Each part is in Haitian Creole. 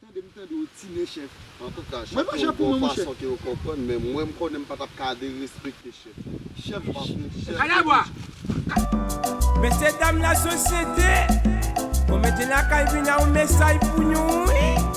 Tande m tande w tine chèf. Antouka chèf yo gon fason ke yo konprann men mwen m konnen m pa t ap ka derespekte chèf. Chèf pa pou m, chèf se Bondye. Mesye dam lasosyete, mwen mete lakay vin a yon mesay pou nou wi.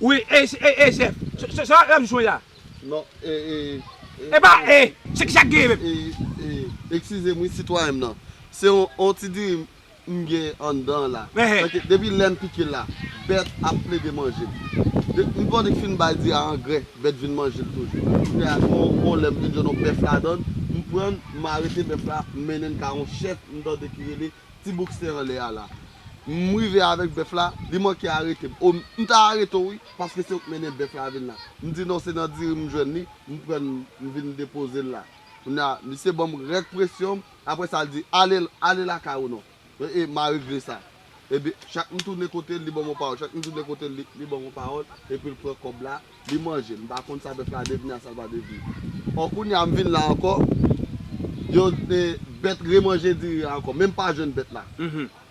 Wi e e chef. Se sa lap jwe la. Non e e e. E pa e. Se kisa k genyen menm. E e e. Ekskize m wi sitwayen m nan. Se yon ti diri m gen anndan an la. Paske depi lè m pike l la, bèt ap plede manje l. M panse k fin m bay diri a angrè, bèt vin manje l toujou. Kounye a yon lè m vin jwenn yon bèf ladan l, m pran l, m arete bèf la, m mennen l ka yon chèf m tande ki rele Ti Bouksen anlè a la. m rive avèk bèf la, li manke arete m. O, m ta arete w wi, paske se ou k mennen bèf la vin la. M di non, se nan diri m jwenn li, m pran l m vin depoze l la. Kounye a, misye ban m rèk presyon m, apre sa l di, ale, ale lakay ou non. E, m a regle sa. Ebyen, chak m tounen kote l, li ban m yon pawòl, chak m tounen kote l, li ban m yon pawòl, epi l pran kòb la. Li manje l. M pa konn sa bèf la devni a sa l pa devni. Ò kounye a m vin la ankò, yo e bèt remanje diri a ankò men m pa jwenn bèt la.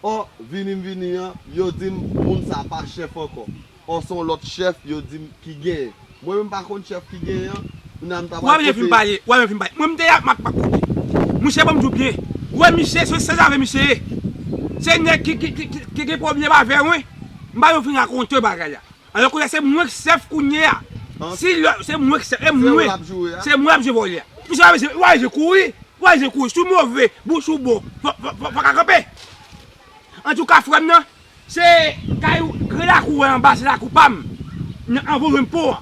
Ò, vini m vini an, yo di m moun sa a pa chèf ankò. Ò se yon lòt chèf yo di m ki genyen. Mwen menm m pa konn chèf ki genyen an, kounye a m ta pral pote. Wè mwen fin pale, wè mwen fin pale. Mwen m te ak Makmak la wi. Mouche ban m di w byen. Wè miche, se sezave miche ye. Se nèg ki gen pwoblèm avè wen. M pa janm fin rakonte w bagay la. Alò kounye a se mwen k chèf kounye a si lò se mwen k chèf e mwen se mwen ap jwe vòlè a pou sa mesye wap jwe kouri wap jwe kouri si w move pou w si w bon fò ka kanpe antouka frè m nan se kay ou gran lakou wè anba se lakou pa m nan anvan w jwenn pon an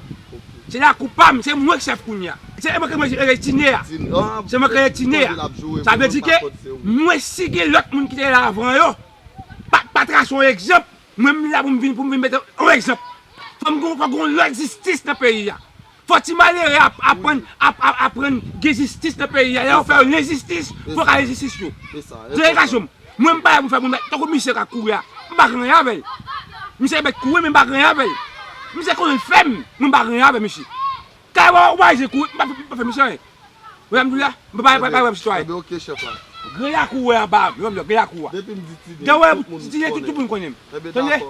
se lakou pa m se mwen k chèf kounye a se mwen k rele tine a se mwen k rele tine a sa vle di ke mwen si gen lòt moun ki te la avan yo pa trase yon egzanp Mwen m la pou m vin pou m vin mete yon egzanp. Fò m gon fò gon lòt jistis nan peyi a. Fò ti malere ap aprann ap ap aprann gen jistis nan peyi a. Lè yo fè yo lenjistis, fò ka gen jistis tou. Se edikasyon m. Mwen m pa la pou m fè moun tankou misye k ap kouri a. M pa gen anyen avè l. Misye mèt kouri men m pa gen anyen avè l. Misye konnen l fèm men m pa gen anyen avè misye. Kay wè ou bay zen kou m pa fè misyon anyen wè sa m di w la m pa pale wè m sitwayen. Ede ok chèf la. Gran yakou ou wè anba m yon lò gran yakou a. Depim di tine Dan wè m tine tout moun konnen m tande.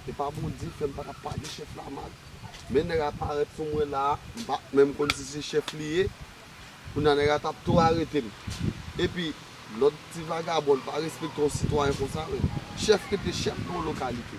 Epa bondye fèm paka padi chèf la mal men nèg la parèt sou mwen la m pa menm konn si se chèf li ye kounya nèg la tap tou aretem epi lòt ti vagabon pa respekte yon sitwayen konsa vre chèf rete chèf nan yon lokalite.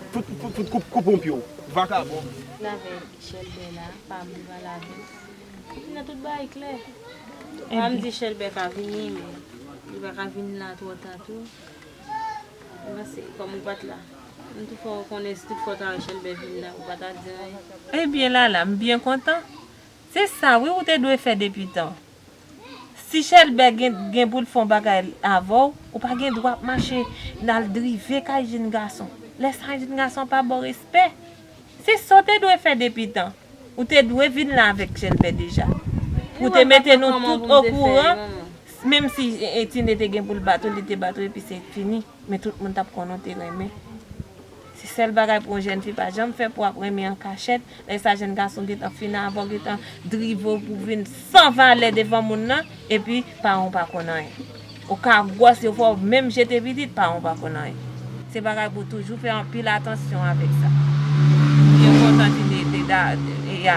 Fout fout fout koup koup on pyew vakabon. Lave chèlbè la pa moun pral lavel epi nan tout bagay klè pa mdi chèlbè pa vini men li paka vin la twò ta tou mwen panse kòm ou pat la m tou fè w konnen si tout fwa w ta wè chèlbè vin la ou pa ta di anyen. Ebyen lala m byen kontan se sa wi ou te dwe fè depi tan. Si chèlbè gen gen poul fon bagay avèw ou pa gen dwa ap mache nal drive kay jinn gason lè sa jinn gason pa baw respè se sa ou te dwe fè depi tan ou te dwe vinn la avèk chèlbè deja pou te mete nou tout okouran menm si tine te gen poul bat ou li te bat ou epi se fini. Men tout moun tap konnen w te renmen. Se sèl bagay pou yon jèn fi pa janm fè pou ap renmen an kachèt, lè sa jèn gason gentan fin avè w gentan drive w pou vin san valè devan moun nan epi paran w pa konn anyen. Ou ka gwòs yo fè w menm jete pitit paran w pa konn anyen. Se bagay pou w toujou fè anpil atansyon avèk sa. Mwen kontan si Leda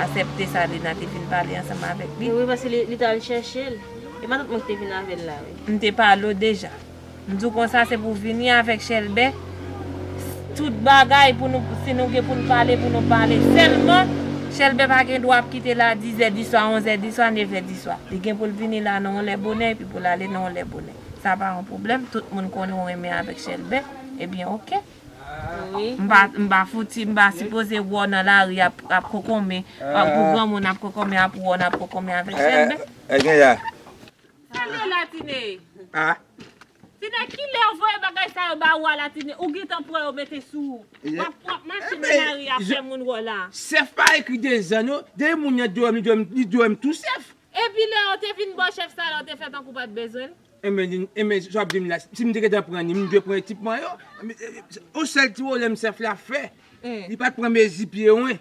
asèpte sa Lina te vin pale ansanm avèk li. Wi paske li t al chèche l. E pa tout moun ki te vin avè l la wi. M te pale w deja. M di w konsa se pou w vini avèk chèlbè tout bagay pou nou si nou gen pou n pale pou nou pale sèlman chèlbè pa gen dwa ap kite la dizè diswa onzè diswa nevè diswa li gen pou l vini la nan yon lè bonè epi pou l ale nan yon lè bonè sa pa yon pwoblèm tout moun konnen w renmen avèk chèlbè ebyen oke m pa m pa fouti m pa sipoze wè w nan lari ap ap kokonmen pou granmoun ap kokonmen ap wè w nan ap kokonmen avèk chèlbè. Kilé la tine. Ah. Tine kilè ou voye bagay sa yo ba ou a la tine ou gentan pran yo mete sou ou wap wap mache nan lari a fè moun wè w la. Sèf pa ekri dezan non, depi moun nan dwèm li dwèm li dwèm tou sèf. Epi lè ou te vin bo chèf sa la ou te fè tankou ou pat bezwen l? Enben di enben sa wap di m la si m te gentan pran li m dwe pran ekipman yo, yon sèl ti wolèm sèf la fè li pat pran mezi pye wen.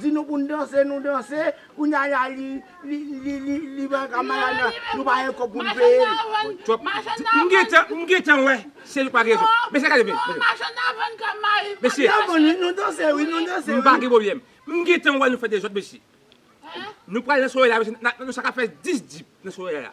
Di nou pou n danse nou danse kounya la li li pral ka malad la nou pa gen kòb pou n peye l. M gentan wè se li k pa gen rezon. Mesye gade men. Machann nan vann kòm mari l. Mesye. Nan vann wi nou danse wi nou danse wi. M pa gen pwoblèm. M gentan wè nou fè dezòd mesye. Nou pral nan sowè la mesye nou sa ka fè 10 dip nan sowè la.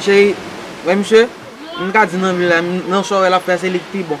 Cheri, wè misye, m ka di nan vil la, nan chò wè l ap fè a se li k pi bon.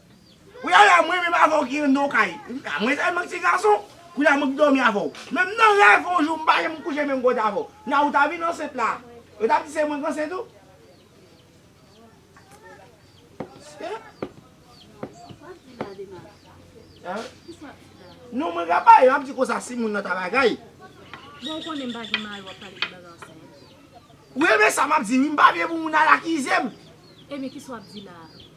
Kounye a la m renmen m avè w gen non kay. Mwen tèlman ti gason, kounye a mwen k dòmi avè w. Menm nan rèv on jou m pa janm kouche menm kote avè w. Nan ou ta vin ansent la, yo t ap di se mwen k ansent ou. Non mwen ka pale, m ap di konsa si moun nan ta bagay. Bon ou konnen m pa gen mari w ap pale de bagay ansent. Ou renmen sa m ap di wi, m pa vle pou moun al akize m. Ebyen kisa w ap di la a?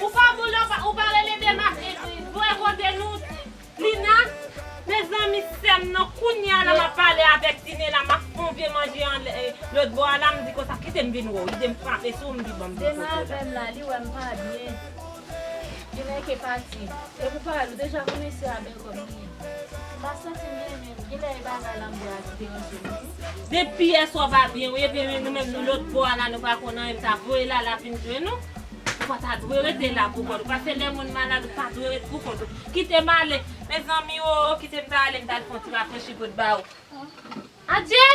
Ou pa boule ou pa rele dema voye kote nou Lina. Mezanmi sèm nan kounya la map pale avèk tine la map fon vye manje anlè lòt bò a la mdi konsa kitem vin wèw idem frape sou mdi banm ti foto la. Dema vèm la li wèm pa byen li nèke pati epou parèt ou deja konnen sè a bègòm li ye mpa santim byen menm. Genlè e bagay lanmwè a ki deranje nou tou. Depi yèswa pa byen wi ebyen nou menm nou lotbò a la nou pa konn anyen m ta voye Lala vin jwenn ou Ou pa ta dwe rete la pou kont ou paske lè moun malad ou pa dwe ret pou kont ou Kite m ale Mezanmi oo kite m ta ale m ta al fon ti rafrechi pou t ba ou Adjee!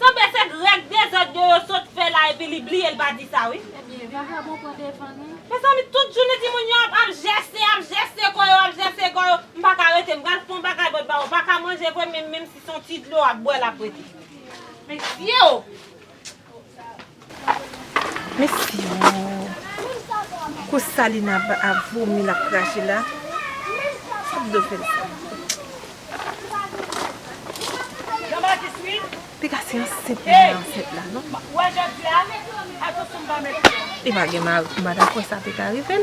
Sanble se grèg dezòd yo yo sot fè la epi li bliye l pa di sa wi. Ebyen vagabon pran devan nou. Mezanmi tout jounen timoun yo ap ap jèse ap jèse kò yo ap jèse kò yo m paka rete m pral fon bagay bòt bawo paka manje vre menm menm si son ti dlo wap bwè lap rete. Mesye o! Mesi ooh. Kou sa Lina ap vomi lap krache la. Kap do fel sa. Piga se ansent li nan ansent la non. Li pa gen mari pou madanm konsa te ka rivel.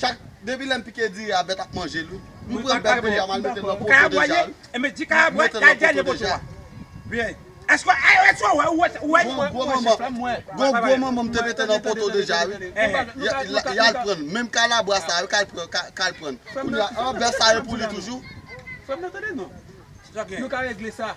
Chak depi lèm pike diri a bèt ap manjel wi. M pran bèt deja mal metel nan poto deja wi. M met nan poto deja. Eske ARS yo wèw ou wè yo. Gon gwo manman m te mete nan poto deja wi. Yal prann menm kalabwa sa yo kal prann. Kounya an bèf sa yo pou li toujou. Frèm nan tande non. Nou ka regle sa.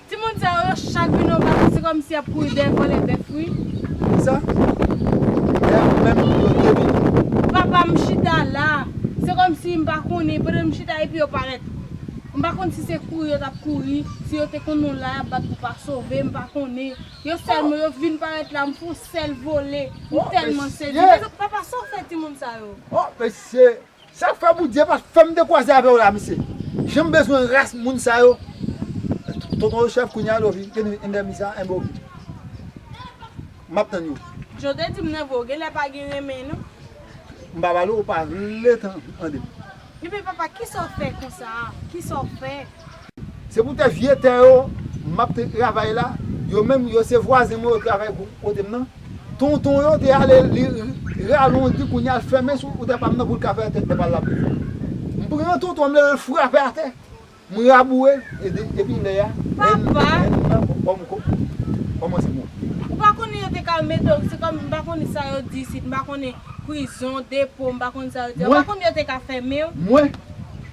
Timoun sa yo chak vin yon bak se kòmsi yap kouri dèyè vòlè bèf wi. Kisa? Lè a menm yo te vini? Papa m chita la, se kòmsi m pa konnen pandan m chita epi yo parèt. M pa konn si se kouri yo tap kouri, si yo te konn nou la yap bat pou pa sove, m pa konnen. Yo sèlman yo vin parèt la m fon sèl vole, m tèlman sezi. Papa sa w fè timoun sa yo? Oh mesye Sak fè Bondye pa fèm te kwaze avèw la mesye janm bezwen ras moun sa yo tonton yo chèf kounya yo vin gen yon endèmi sa enben ok map tann yo. Jan w te di m nan vre w genlè pa gen renmen non. M pa pale w pa vle tandem. Ebyen papa kisa w fè konsa a kisa w fè. Se pou tè vye tè yo m ap travay la, yo menm yo se vwazen mwen yo travay kote m nan. Tonton yo te ale li ralondi kounye a l fèmen sou tè pa m nan pou l ka fè tè pa l la pi bèl. M pran tonton an m leve l frape atè, m raboure l e depi lè a èn nan kòmanse monte. Ou pa konnen yo te ka mete w se kòm m pa konnen sa yo di isit m pa konnen prizon, depo m pa konnen sa yo di a ou pa konnen yo te ka fèmen w? Mwen?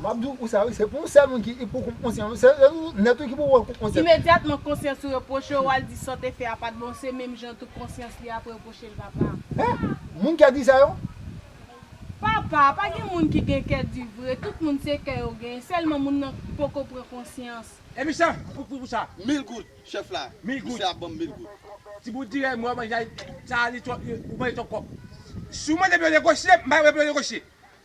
Map di ou sa wi, se pou ou sèl moun ki pou ou konsyan wi, se ou nèt wi ki pou ou konsyan. Imedyatman konsyans ou repwoche ou al di sa w te fè a pat bon se menm jan tou konsyans li ap repwoche l papa. Hein! Moun kè di sa yo? Papa, pa gen moun ki gen kè di vre, tout moun se kè yo gen, sèlman moun nan poko pran konsyans. E misye pou pou sa. Mil goud chef la misye ap banm mil goud. Ti bout dirèy mwen manje sa li twò ou manje twòp kòb. Si w mande m yon negosye m pa yon moun pou yon negosye.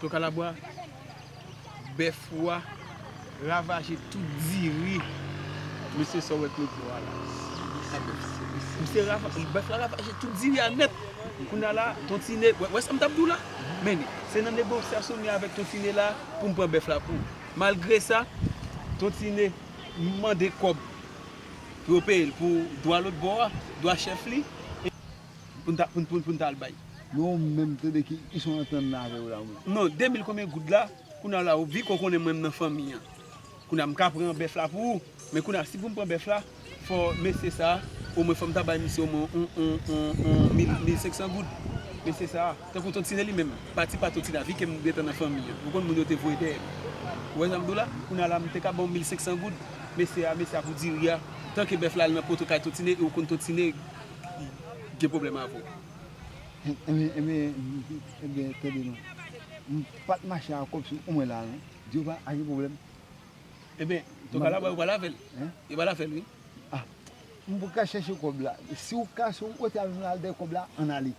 To kalabwa, bèf ou a ravaje tout diri mesye sa w wè Claude Lora la a bèf misye ravaje bèf la ravaje tout diri a nèt kounya la ton tine w wè sa m t ap di w la men se nan negosyasyon m ye avèk ton tine la pou m pran bèf la pou malgre sa ton tine mande kòb pou yo peye l pou dwa lotbò a dwa chèf li. Poun ta al bay. Non ou menm tande ki son antann nan avew la ou menm. Non 2000 konbyen goud la kounye la ou viko konnen mwen nan fanmi an kounye mka pran bèf la pou ou men kounye si poum pran bèf la fò mesye sa omwen fòm ta bay misye omwen yon 1500 goud mesye sa tankou ton tine li menm pati pa ton tine a vikem gentan nan fanmi an ou konn moun yo te voye dèyèm ou wè sam diw la kounye la mte ka baw 1500 goud mesye a mesye a pou diri a tanke bèf la al nan poto kay ton tine e ou konn ton tine. gen pwoblèm avè w. Ebyen, tande non. M pa t mache avè w sou mwen la non. Jewova a gen pwoblèm? Ebyen, to ka la wè w pral avè l. Yo pral avè l wi. A M pou ka chèche kòb la. Si w ka, si w kote al jounal dèyè kòb la, ann ale.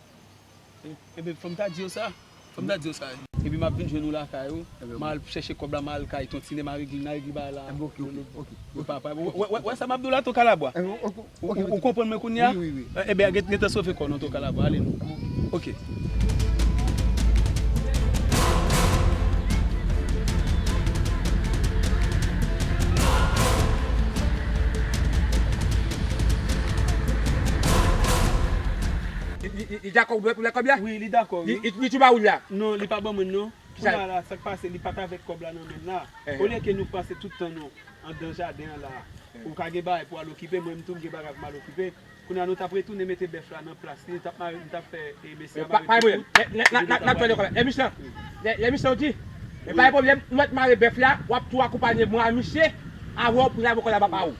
Ebyen fòm ta di yo sa, fòm ta di yo sa. Epi map vin jwenn ou lakay ou, ma al chèche kòb la ma al kay ton tine ma regle na regle bagay la. Ebyen ok ok ok. Ou pa pale, ou wè sa map di w la ton kalabwa? Ou konprann mwen kounya? Wi wi wi. Ebyen gentan sove kò w non ton kalabwa, ale non. Ebyen ok. Ok. Li dakò pou lè kòb la? Wi li dakò wi. Li tou ba ou li a? Non li pa ban mwen non. Kounya la sak pase li pat avèk kòb la nan menl la. Olye ke nou pase tout tan nou andan jaden an la. Ou ka gen bagay pou al okipe mwen menm tou m gen bagay pou mal okipe. Kounya nou tap retounen mete bèf la nan plas li m tap fè mesye a mare tout kout epi nou tap ale. Pa gen pwoblèm. Lè misye an lè misye an di pa gen pwoblèm ou mèt mare bèf la wap tou akonpanye mwen a misye avèw pou n al pran kòb la m ap ba ou.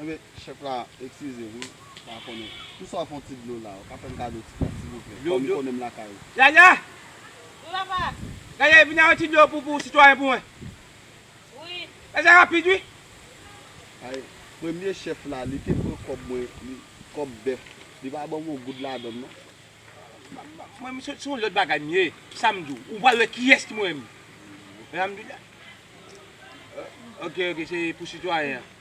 Anben chèf la eskize m pa konnen Pou sa w fon ti dlo la ou ka fè m kado ti kòb silvouplè kòm ou konnen m lakay ou. Yaya! Wi papa! Yaya vini avèk ti dlo pou sitwayen pou mwen. Wi. Fè sa rapid wi. Ay premye chèf la li te pran kòb mwen li kòb bèf li pa ban m yon goud ladann non. Mwen se yon lòt bagay m ye sa m di w ou pral wè kiyès ki mwen menm. Alhamdoulilah. Ok ok se pou sitwayen an.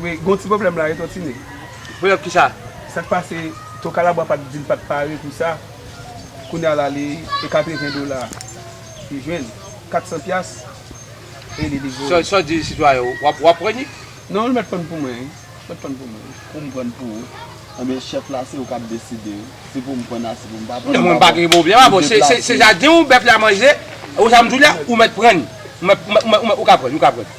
Wi gon ti pwoblèm la wi ton tine. Pwoblèm kisa? Sak pase ton kalabwa pat dil pat pare pou sa kounya la li e 80 dola li jwenn 400 pyas e li livre ou. Saw di sitwayen ou wap pran li? Non li mèt prann pou mwen wi li mèt prann pou mwen. Poum prann pou ou? Ebyen chèf la se ou kap deside si poum prann a si poum pa prann. Non mwen pa gen pwoblèm a bon se jaden ou bèf la manje e ou sa mdou la ou mèt prann ou ka prann ou ka prann.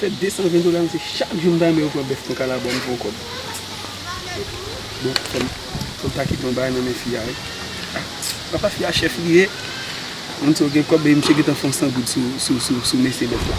Fè 220 dola mesye chak jou m ta renmen yo pran bèf nan kalabwa m pran kòb bon fòm ta kite yon bagay nan men fi a wi apa fi a chèf li ye moun sa yo gen kòb epi misye gentan fon 100 goud sou mesye bèf la.